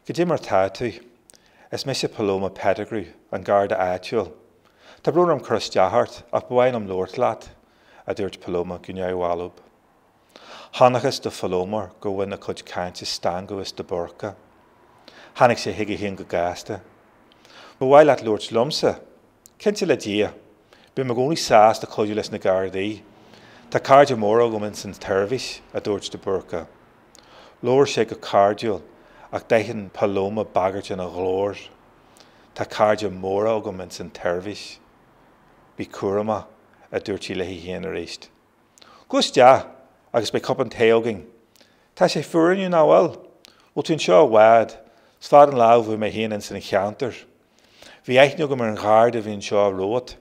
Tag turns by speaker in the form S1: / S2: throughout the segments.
S1: Cad é mar tá tú. Is mise Paloma Pettigrew, an Garda áitiúil. Tá brón orm cur isteach ort, ach ba mhaith liom labhairt leat, a dúirt Paloma go neamhbhalbh. Chonacthas do Phaloma gur bhain a cuid cainte stangadh as de Búrca. Tháinig sé chuige féin go gasta. Ba mhaith leat labhairt liomsa? Cinnte le Dia. Bím i gcónaí sásta cuidiú leis na Gardaí. Tá cairde móra agam ins an tseirbhís, a dúirt de Búrca. Labhair sé go cairdiúil, ach d'aithin Paloma bagairt ina ghlór. Tá cairde móra agam ins an tseirbhís. Bí cúramach, a dúirt sí léi féin arís. Gabh isteach agus beidh cupán tae againn. Tá sé fuar inniu, nach bhfuil? Bhfuil tú anseo i bhfad? 'S fada an lá ó bhí mé féin ins an cheantar. Bhí aithne agam ar an gharda a bhí anseo romhat.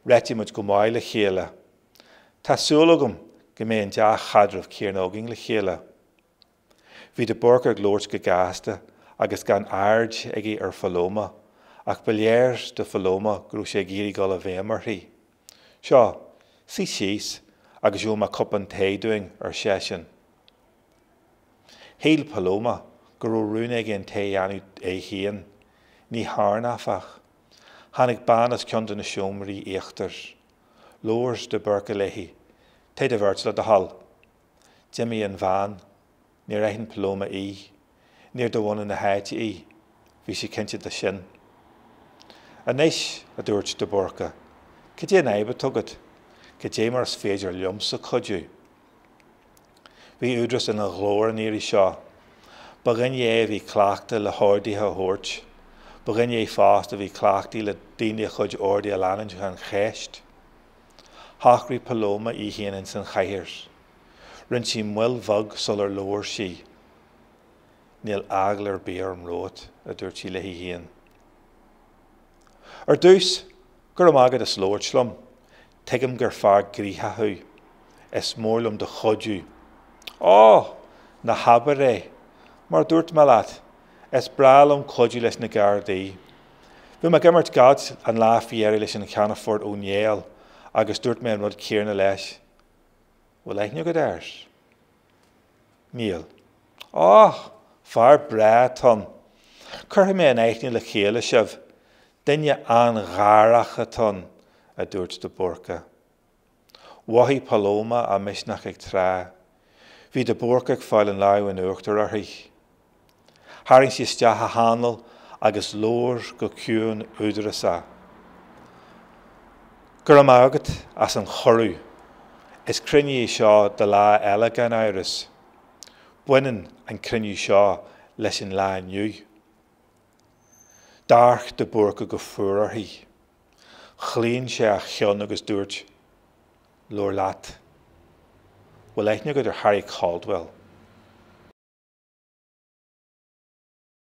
S1: Réitigh muid go maith le chéile. Tá súil agam go mbeidh an dea-chaidreamh céanna againn le chéile. Bhí de Búrca ag labhairt go gasta agus gan aird aige ar Phaloma, ach ba léir do Phaloma go raibh sé ag iarraidh dul i bhfeidhm uirthi. Seo, suigh síos agus gheobhaidh mé cupán tae dúinn, ar seisean. Shíl Paloma go raibh rún aige an tae a dhéanamh é féin. Ní thearn, áfach. Tháinig bean as ceann de na seomraí íochtair. Labhair de Búrca léi, Tae do bheirt le do thoil. D'imigh an bhean. Níor aithin Paloma í. Níor de bhunadh na háite í. Bhí sí cinnte de sin. Anois, a dúirt de Búrca, cad é an fhadhb atá agat? Cad é mar is féidir liomsa cuidiú? Bhí údaras ina ghlór an iarraidh seo. Ba dhuine é a bhí cleachta le horduithe a thabhairt. Ba dhuine é fosta a bhí cleachtaí le daoine a chuid orduithe a leanúint gan cheist. Shocraigh Paloma í féin ins an chathaoir. Rinn sí moill bheag sular labhair sí. Níl eagla ar bith orm romhat, a dúirt sí léi féin. Ar dtús, Go raibh maith agat as labhairt liom. Tuigim gur fear gnoitheach thú. Is mór liom do chuidiú. Ó! Ná habair é. Mar a dúirt mé leat, is breá liom cuidiú leis na Gardaí. Bhí mé ag imirt gailf an lá faoi dheireadh leis an Cheannfort Ó Néill agus dúirt mé an rud céanna leis. Bhfuil aithne agat air? Níl. Och! Fear breá atá ann. Cuirfidh mé in aithne le chéile sibh. Duine an-gharach atá ann, a dúirt de Búrca. Mhothaigh Paloma a misneach ag trá. Bhí de Búrca ag fáil an lámh in uachtar uirthi. Tharraing sí isteach a hanáil agus labhair go ciúin údarasach. 'Go raibh maith agat as an chuireadh. Is cruinniú é seo do lá eile gan amhras. Baineann an cruinniú seo leis an lá inniu. D'amharc de Búrca go fuar uirthi. Chlaon sé a cheann agus dúirt. Leor leat. Bhfuil aithne agat ar Harry Caldwell?